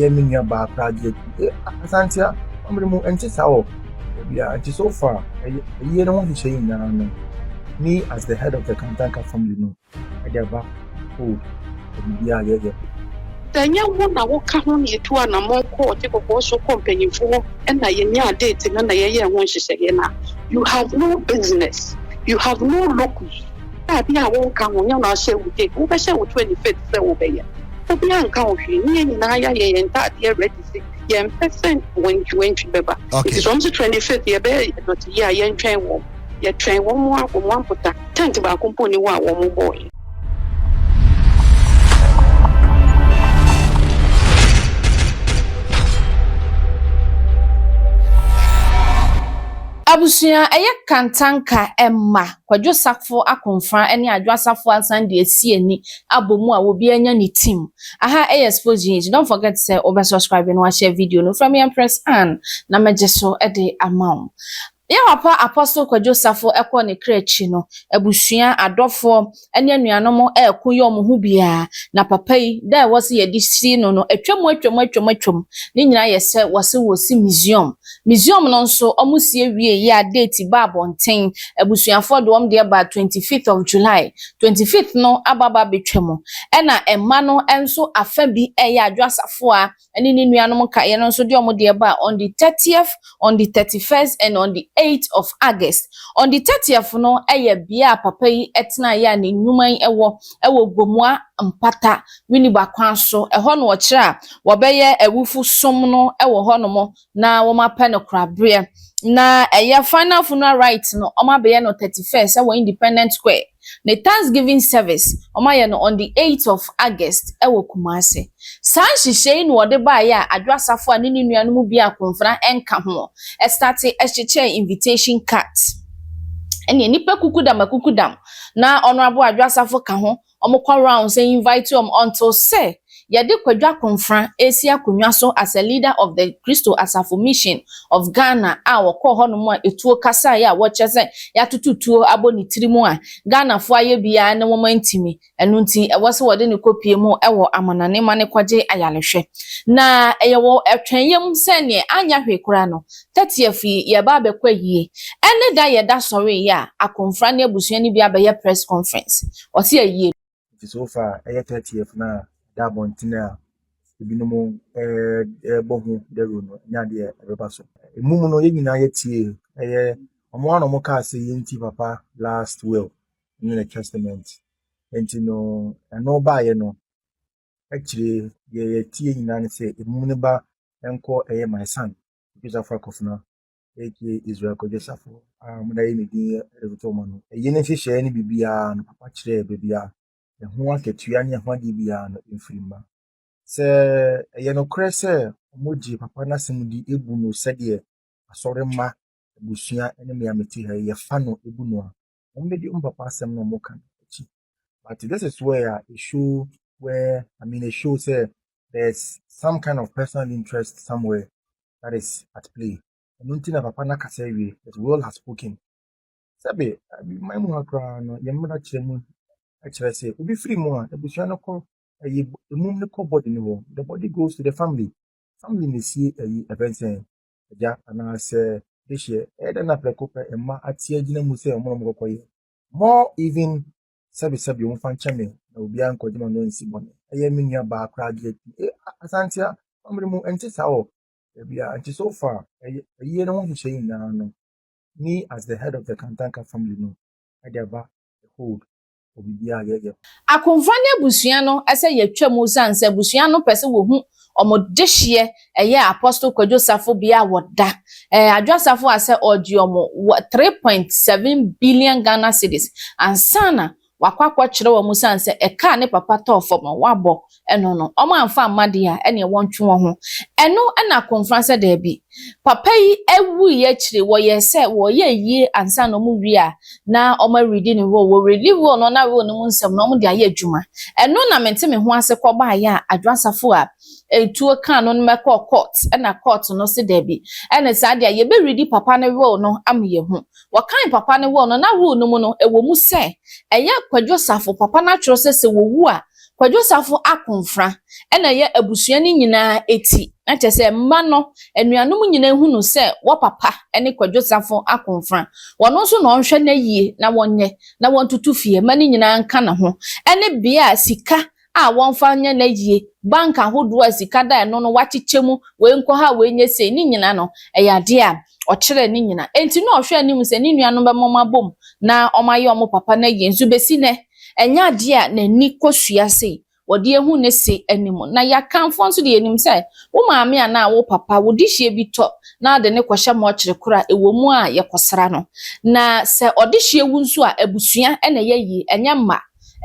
yɛ me nua baa koraa deɛ eh, Asante a ɔmere mu ɛnte saa wɔ baabi a nti so far ɛyɛ ɛyɛ ne ho nhyehyɛ yi nyinaa no me as the head of the Kantanka family no ɛde aba o ɛbibi a yɛyɛ. Sɛ ɛnyɛ wo na woka ho na yɛtu anammɔn kɔ ɔte kɔkɔɔ so kɔ mpanyimfo hɔ na yɛnyaa date no na yɛyɛɛ ho nhyehyɛeɛ no a, you have no business, you have no locus. a bi a wonka ho, nyɛ no ahyɛwdze, wobɛhyɛ wo 25th sɛ wobɛyɛ. Obiara nka wo hwee, ne yɛn nyinaa yɛayɛ yɛn ntaadeɛ ready se yɛmpɛ sɛ wantwiwantwi bɛba. Nti sɛ wɔn se 25th yɛbɛyɛ dɔte yie a, yɛntwɛn wɔn. Yɛtwɛn wɔn a wɔn ampota, tent baako mpo nni hɔ a wɔn bɔɔeɛ. Abusua, ɛyɛ kantanka mma. Kwadwo Sakfo Akomfra ne Adwo Asafo asan de asi ani abɔ mu a obiara anya ne team. Aha yɛ Sports GH, don't forget sɛ wobɛ subscribe na w'ashare video no. Frɛ me Empress Ann na mɛgye so de ama wo. Yɛn papa Apostle Kwadwo Safo kɔ ne kra akyi no, abusua, adɔfoɔ ne anuanom reko yɛ wɔn ho biara. Na papa yi, da a ɛwɔ sɛ yɛde si no no, atwam atwam atwam atwam. Ne nyinaa yɛ sɛ wɔse wɔsi museum. Museum no nso ɔmo sie wiee yi a date baa abɔnten, abusuafoɔ de wɔn deɛ baa twenty fifth of July, twenty fifth no aba aba abɛtwa mu, ɛna mma no nso afa bi ɛyɛ Adwo Asafoa ɛne ne nuanom nkaeɛ no nso de wɔn deɛ baa on the thirtieth, on the thirty first and on the eighth of August. On the thirtieth no ɛyɛ bea a papa yi ɛtenaeɛ a ne nwuma yi ɛwɔ ɛwɔ Gomua Mpata, Winneba kwan so, ɛhɔ na ɔkyerɛ a wɔbɛyɛ awufo som no ɛwɔ hɔ nom na wɔapɛ no korabeɛ. Na ɛyɛ final funeral rite no wɔabɛyɛ no thirty first ɛwɔ independent square. Ne thanksgiving service wɔayɛ no on the eighth of August ɛwɔ Kumasi. Saa nhyehyɛɛ yi na wɔde baeɛ a Adwo Asafo a ne ne nua no mu biara akonfena nka ho startee ɛhyekyɛɛ invitation cards. Ɛneɛ nnipa kukudam akukudam na Honourable Adwo Asafo ka ho Ɔmo kɔ rounds a invite ɔmo until sɛ yɛde Kwadwo Akonfra ɛresi akonwa so as a leader of the Christo Asafo Mission of Ghana a ɔkɔɔ hɔ nom a etuo kasaeɛ a wɔkyerɛ sɛ yɛatoto tuo abɔ ne tiri mu a Ghanafoɔ ayɛ biaa ne wɔn antumi ɛno nti ɛwɔ sɛ wɔde no kɔpue mu wɔ amanane ma no kɔgye ayarehwɛ na ɛyɛ wɔ atwɛnyɛ mu sɛ neɛ anyɛ hwee koraa no Tatia fi yɛɛba abɛkɔ ayie ɛne da yɛda sɔree yɛ a akomfra ne abusua no bi abɛyɛ press conference ɔse ayie. Nti so far ɛyɛ thirtieth no a da abɔnten a ebinom ɛɛbɔ ho dawuro no ɛnyɛ adeɛ a ɛbɛba so. Mmom no yɛn nyinaa yɛtiee ɛyɛ wɔn a na wɔn kaa se yɛn ti papa last will ɛne ne testament nti no ɛno baayɛ no akyire yi deɛ yɛtie nyinaa ne sɛ emu no ba nkɔ ɛyɛ my son odwosafo akɔfena aka israel kɔdwosafo a wɔde ayɛ ne din ɛretoto wɔn no ɛyi ne nhyehyɛeɛ no biribiara no papa kyerɛɛ baabi a ɛho akatua ne ɛho adeɛ biara no mfiri mma sɛ ɛyɛ nokorɛ sɛ wɔgye papa no asɛm di ebu no sɛdeɛ asɔre mma abusua ne mmea mete ha yi yɛfa no ebu no a wɔn bɛ di wɔn papa asɛm na wɔn ka no akyi but this is where a it show where i mean it show say there's some kind of personal interest somewhere that is at play ɛno nti na papa n'akasa awie but will has spoken sɛbe man mu ha koraa no yɛn mmara kyerɛ mu kyerɛ sɛ obi firi mu a abusua no kɔ ɛyɛ emum no kɔ body no hɔ the body goes to the family family na esie ɛyi ɛbɛn sɛn agya anaasɛ dehyeɛ. Ɛyɛ dɛ na prɛko pɛ mma ate agyina mu sɛ wɔn na wɔkɔkɔyɛ. More even sɛbesɛbe wɔmfa nkyɛ me na obiara nkɔgye m'ano ansi bɔne. Ɛyɛ me nua baa koraa gye atum. E, Asantea, amere mu ɛnte saa wɔ baabi a nti so far ɛyɛ ayie no ho nhyehyɛ nyinaa no me as the head of the Kantanka family no ɛde aba the hold wɔ biribiara a yɛyɛ ho. Akonfa ne abusua no sɛ yɛatwa mu esiane sɛ abusua no pɛ sɛ wɔhu wɔn dehyeɛ ɛyɛ Apostle Kwadwo Safo bea a wɔda. Adwoa Safo a sɛ ɔregye wɔn wɔ three point seven billion Ghana cedis ansa na wakɔ akɔkyerɛ wɔn esiane sɛ ɛkaa ne papa tɔɔ fam no, wabɔ ɛno no, wɔamfa amma deɛ a, ɛneɛ wɔntwe wɔn ho. Ɛno na Komfran sɛ daabi. Papa yi wuiɛ akyire, wɔyɛɛ sɛ wɔreyɛ ayie ansa na wɔwie a, na wɔaredi ne role. Wɔredi role no na role no mu nsɛm no wɔde ayɛ adwuma. Ɛno na mente me ho ase kɔbaeɛ a Adwo Asafo a tuo kaa no no mɛkɔɔ court na court no se daabi. Ɛne saa deɛ a, yɛbɛredi papa no role no ama yɛahu. Wɔkae papa no role no, na role no mu no, ɛwɔ mu sɛ ɛyɛ Kwadwo Safo, papa no atwerɛ sɛ sɛ wɔwu a, Kwadwo Safo Akonfra na ɔyɛ abusua no nyinaa ti, na kyerɛ sɛ mma no anuanom nyinaa hu no sɛ wɔ papa ne Kwadwo Safo Akonfra. Wɔno nso na ɔnhwɛ na yie na wɔnyɛ na wɔntoto fie mma no nyinaa nka ne ho ne bea a sika a wɔmfa nyɛ na yie, bank ahodoɔ a sika da ɛno no wɔakyekyɛ mu, wei nkɔ ha wei nyɛ sei, ne nyinaa no ɛyɛ adeɛ a ɔkyerɛɛ ne nyina. Enti nna ɔhwɛ anim sɛ ne nuanom bɛma wɔabom na wɔayɛ wɔn papa no ayie. Nso besi nnɛ, ɛnyɛ adeɛ a n'ani kɔsua sɛ wɔde ahu ne se anim. Na Yɛakamfoɔ nso deɛ yɛnim sɛ wo maame anaa wo papa, wo dehyeɛ bi tɔ na wode no kɔhyɛ mɔɔkyere koro a ɛwɔ mu a yɛkɔsra no. Na sɛ ɔdehyeɛ wu nso a, abusua na ɛyɛ yie, ɛnyɛ mma.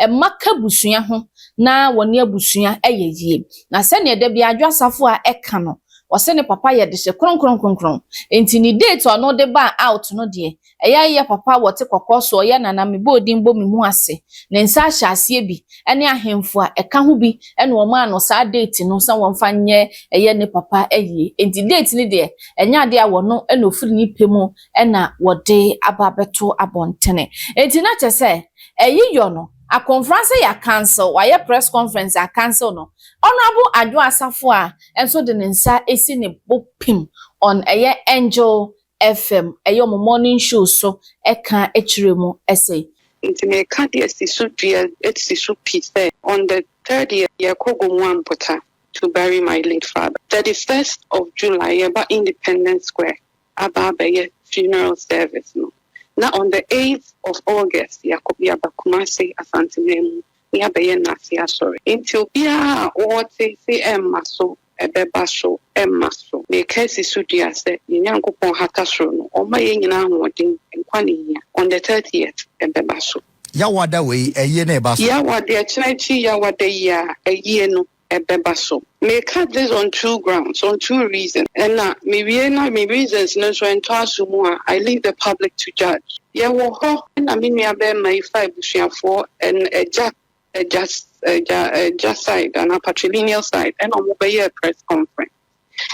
Mma ka abusua ho na wɔne abusua yɛ yie. Na sɛdeɛ da biara Adwo Asafo a ɛka no, Ɔse ne papa yɛ dehyɛ kronkronkronkron enti ne date a ɔno de baa out no deɛ ɛyɛ ayɛ papa wɔte kɔkɔɔ so ɔyɛ nana mebɔɔ din bɔ me mu ase ne nsa ahyɛ aseɛ bi ɛne ahemfo a ɛka ho bi ɛna wɔmaa no saa date no sɛ wɔmfa nyɛ ɛyɛ ne papa ayie enti date no deɛ ɛnyɛ adeɛ a wɔno ɛna ɔfiri ne pɛ mu ɛna wɔde aba abɛto abɔntene enti na kyɛ sɛ ɛyi yɔ no Akonfra sɛ ya cancel wayɛ press conference a cancel no Honourable Adwoa Asafoah nso de ne nsa asi ne bo pim on ɛyɛ Angel FM ɛyɛ ɔmo morning show so ɛka kyerɛ mu se. Nti meka deɛ si so dua si so pi sɛ on the third yɛ yɛkɔ Gomoa Mpota to bury my late father, thirty first of July yɛba Independence Square aba abɛyɛ funeral service no na on the eighth of August yɛakɔ yɛaba Kumasi Asanteman mu na yɛabɛyɛ Nase Asɔre nti obiara a ɔɔte se ɛmma so ɛbɛba so ɛmma so meka asi so dua sɛ yɛn Nyankopɔn hata soro no ɔmma yɛn nyinaa ahoɔden nkwa ne hia on the thirtieth ɛbɛba so. Yawada wei ayie na ɛba so. Yawade ɛkyena akyi Yawada yi a ayie no ɛbɛba so. Me cut this on two grounds, on two reasons, ɛna me wie na me reasons no nso ɛntɔ aso mu a, I leave the public to judge. Yɛ wɔ hɔ ɛna me nua bɛɛma yi fa abusuafoɔ ɛn agya agya agya agya side anaa patrilineal side ɛna ɔmo bɛyɛɛ press conference.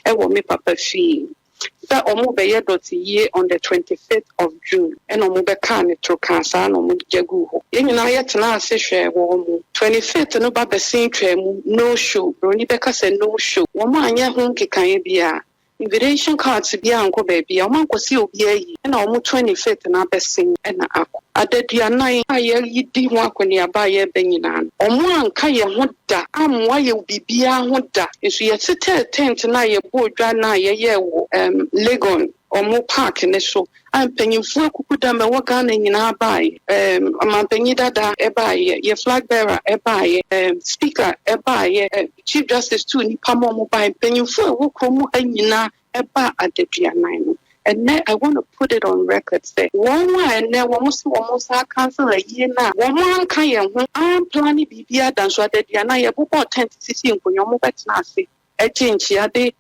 wɔ me papa fie sɛ ɔmo bɛyɛ dɔteyie on the twenty fifth of June ɛna ɔmo bɛkaa ne toro kaa saa na ɔmo gya guu hɔ yɛn nyinaa yɛ tenaa ase hwɛɛ wɔn mo twenty fifth no ba bɛsen twaa mu no show broni bɛka sɛ no show wɔn anyɛ ho nkekaeɛ biaa invitation cards biaa ankɔ baabiaa ɔmo ankɔ sɛ obiaa yi ɛna wɔn twenty fifth no abɛsen ɛna akɔ adaduanan a yɛredi ho akɔneaba a yɛreba nyinaa no ɔmo anka yɛn ho da, ammoa yɛ wɔ biribiara ho da. Nso yɛtetɛɛ tɛnt no a yɛbɔɔ dwa no a yɛyɛɛ wɔ ɛɛm Legon wɔn park no so a mpanyinfoɔ akuku dam ɛwɔ Ghana nyinaa baeɛ. Ɛɛm Ɔmanpanyin dada baeɛ, yɛ flag bearer baeɛ, ɛɛm Speaker baeɛ, ɛɛm Chief Justice tuu nnipa ma wɔn baeɛ, mpanyinfoɔ a ɛwɔ kurom ha nyinaa Ɛbaa adaduanan no, ɛnnɛ I want to put it on record sɛ wɔn a ɛnnɛ wɔn se wɔn nsa aka ansa ayie no a wɔn anka yɛn ho amplane biribiara da nso adaduanan yɛbobɔɔ tent sisii nkonnwa wɔn bɛtena ase gye nkyia de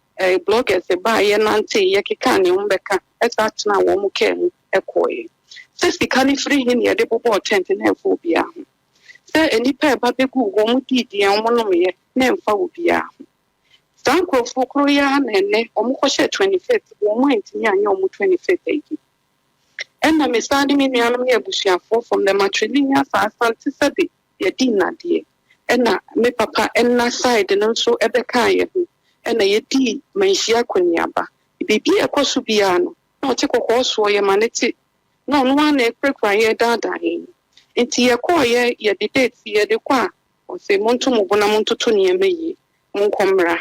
bloggers baeɛ nanteeɛ kekaa nea wɔn bɛka ɛsan tenaa wɔn car mu kɔeɛ sɛ sika no firi he na yɛde bobɔɔ tent no ɛmfa obiara ho sɛ nnipa ɛba bɛgu wɔn dii deɛ wɔn nomeeɛ na ɛmfa obiara ho. Saa nkurɔfoɔ korɔ yi ara na ɛnnɛ wɔkɔhyɛɛ 25th, wɔn antumi anyɛ wɔn 25th ayi. Ɛnna me san ne me nuanom ne abusuafoɔ from the matrilineal saa Asante sɛbe yɛadi nnadeɛ. Ɛnna me papa nna side no nso bɛkaa yɛn ho, ɛnna yɛdii manhyia akɔneaba. Biribi a ɛkɔ so biara no, na ɔte kɔkɔɔ soɔ, yɛma no te. Na ɔno ara na ɛkurakura yɛn, ɛdaadaa yɛn. Nti yɛkɔeɛ, yɛde date yɛde kɔ a, Ɔse, Monto mo bo na montoto nneɛma yie, monkɔ mmra.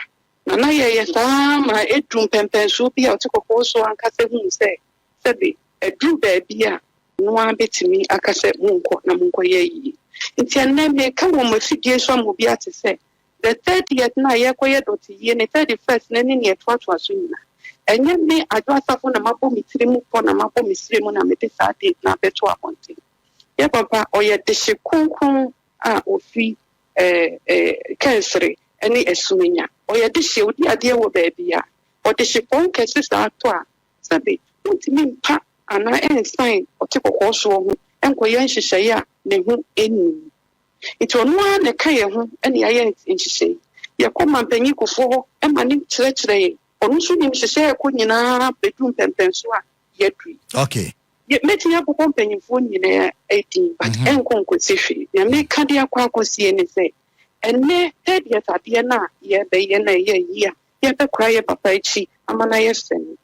Nana yɛeɛ saa ara ma ɛduruu mpɛnpɛnsoɔ bi a ɔte kɔkɔɔ soɔ ankasa huu sɛ sɛbe aduru baabi a ɔno ara bɛtumi aka sɛ monkɔ na monkɔyɛ ayie. Nti ɛnnɛ meka wɔ m'afidie so ama obi ate sɛ the thirtieth no a yɛrekɔyɛ dɔteyie ne thirty first no ne nea ɛtoatoa so nyinaa, ɛnyɛ me Adwo Asafo na mabɔ me tiri mu pɔ na mabɔ me srɛ mu na mede saa date no abɛto abɔnten. Yɛ papa ɔyɛ dehye kronkron. a ofi Kensere ne Asumenya. Ɔyɛ dehye, odi adeɛ wɔ baabi a ɔdehye pɔn kɛse saa tɔ a, sɛbe ontumi mpa anaa ɛnsan ɔte kɔkɔɔ soɔ ho nkɔyɛ nhyehyɛeɛ a ne ho nnim. Nti ɔno ara na ɛka yɛn ho ne ayɛ nhyehyɛeɛ. Yɛkɔ Mampanyin Kufuor hɔ ma no kyerɛkyerɛ yɛn. Ɔno nso nim hyehyɛeɛ ɛkɔ nyinaa bɛdu mpɛmpɛnsoɔ a yɛaduru yi. Okay. Mɛtumi abobɔ mpanyimfoɔ nyinaa din but mhm. ɛnkɔ nkɔsi hwee. Nea meka de akɔ akɔsie ne sɛ ɛnɛ third years adeɛ no a yɛbɛyɛ na ɛyɛ yie a yɛbɛkora yɛ papa akyi ama no ayɛ sɛ no.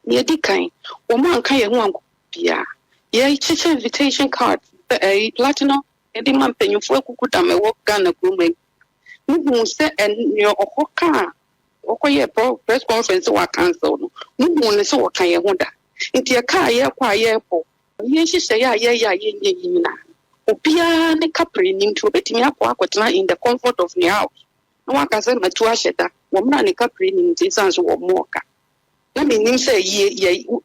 Nea ɛdi kan, wɔn anka yɛn ho anko biara. Yɛkyekyɛ invitation card ɛyi platinum ɛde ma mpanyimfoɔ akuku dam ɛwɔ Ghana kurom ɛyi. Muhu sɛ ɛnea ɔhɔ kaa Wɔkɔyɛɛ press conference sɛ wɔacancel no, muhuu no sɛ wɔka yɛn ho da. Enti ɛka a yɛkɔ a yɛkɔ, yɛn nhyehyɛe a yɛyɛ a yɛnyɛ yi nyinaa, obiara ne Capri nni nti obetumi akɔ akɔtena in the comfort of ne house na waka sɛ matu ahyɛ da. Wɔn a ne Capri nni nti esiane sɛ wɔmmɔɔ ka na minnim sɛ ayie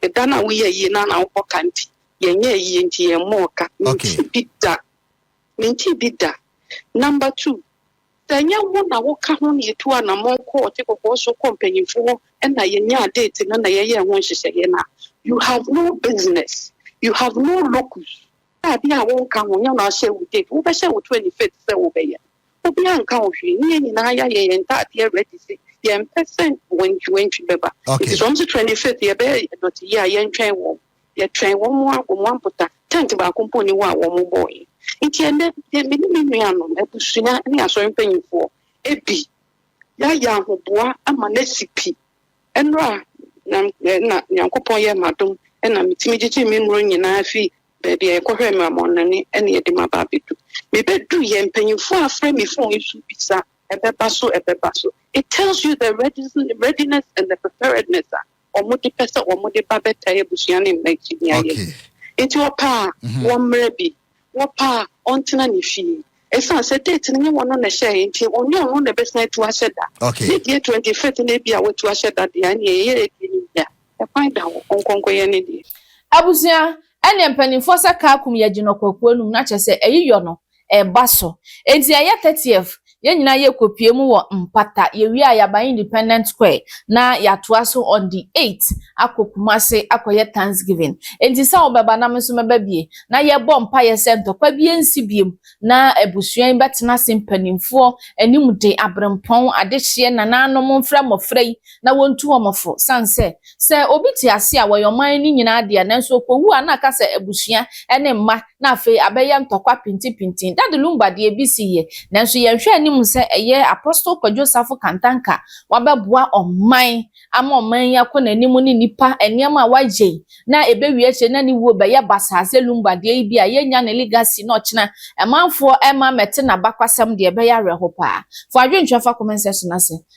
yɛ da no a woyɛ ayie no a na wobɔ ka nti yɛnyɛ ayie nti yɛmmɔɔ ka. Mentee bi da. Mentee bi da. Number two. Sɛ ɛnyɛ wo na woka ho na yetuu anammɔn kɔɔ Ɔte Kɔkɔɔ so kɔɔ mpanyimfo hɔ na yenyaa date no na yɛyɛɛ ho nhyehyɛe no a, you have no business, you have no locus. Sɛ ade a wonka ho, nyɛ wo na ahyɛ wo date, wobɛhyɛ wo 25th sɛ wobɛyɛ no. Obiara nka wo hwee, ne yɛn nyinaa yɛayɛ yɛn ntaadeɛ ready se yɛmpɛ sɛ wantwiwantwi bɛba. Enti sɛ wɔse 25th yɛbɛyɛ dɔteyɛ a, yɛntwɛn wɔn. Yɛtwɛn wɔn ara wɔ wɔn mpota, tɛnt baako mpo nni hɔ a wɔbɔe. Enti ɛnnɛ, yɛn, me ne me nuanom, abusua ne asɔre mpanimfoɔ, bi yɛayɛ ahoboa ama no asi pi. Ɛnnora na, na Nyankopɔn yɛɛ me adom na metumi gyigyee me nnuro nyinaa fii baabi a yɛkɔhwɛɛ me amɔnnɔne na yɛde maba abɛdu. Mebɛduiɛ, mpanimfoɔ afrɛ me fon yi so bisa, Ɛbɛba so? Ɛbɛba so? It tells you the readiness and the preparedness a wɔde pɛ sɛ wɔde ba bɛtaa abusua ne mma akyi ne ayɛyi. Enti ɔpɛ a, mhm. wɔmmrɛ bi. Wɔpɛ a, ɔntena ne fie. Ɛsiane sɛ date no nyɛ wɔn na ɛhyɛeɛ nti, ɔnyɛ ɔno na ɛbɛsan atu ahyɛ da. Ne deɛ 25 no bi a watu ahyɛ da deɛ, ɛneɛ ɛyɛ ɛdi ne deɛ. Ɛkwan da hɔ, ɔnkɔnkɔyɛ ne deɛ. Abusua, ɛneɛ mpanimfoɔ sɛ kaa kum yɛgye no kwakuo anum na kyerɛ sɛ ɛyi yɔ no. ɛba so. Enti ɛyɛ thirtieth, yɛn nyinaa yɛ kɔpue mu wɔ mpata, yɛ wie a yɛ aba independent square na yɛ atoa so on the eight akɔ Kumasi akɔ yɛ thanksgiving. Enti sɛ wo bɛ ba na me nso mɛ ba bie na yɛ bɔ mpaeɛ sɛ ntɔkwa bie nsi biem na abusua yi bɛ tena ase mpaninfoɔ anim de abrempɔn adehyeɛ nanaanom mfrɛ mmɔfra yi na wontu wɔn fo san sɛ, sɛ obi te ase a wɔyɛ ɔman no nyinaa dea nanso okowu a na aka sɛ abusua ne mma na afei abɛyɛ ntɔkwa pintipintin. Dade Lumba de ebi si yɛ nanso yɛnhwɛ anim sɛ ɛyɛ Apostle Kwadwo Safo Kantanka wabɛboa ɔman ama ɔman yi akɔ n'anim ne nnipa nneɛma a wayɛ yi na ɛbɛwie akyire na ne wuo bɛyɛ basaa sɛ Lumba deɛ yi bi a yɛnnya ne legacy na ɔkyena amanfoɔ mma mmɛte n'abakwasɛm deɛ ɛbɛyɛ awerɛho paa. Fa adwenkyerɛ fa kɔmɛnsɛhye no ase.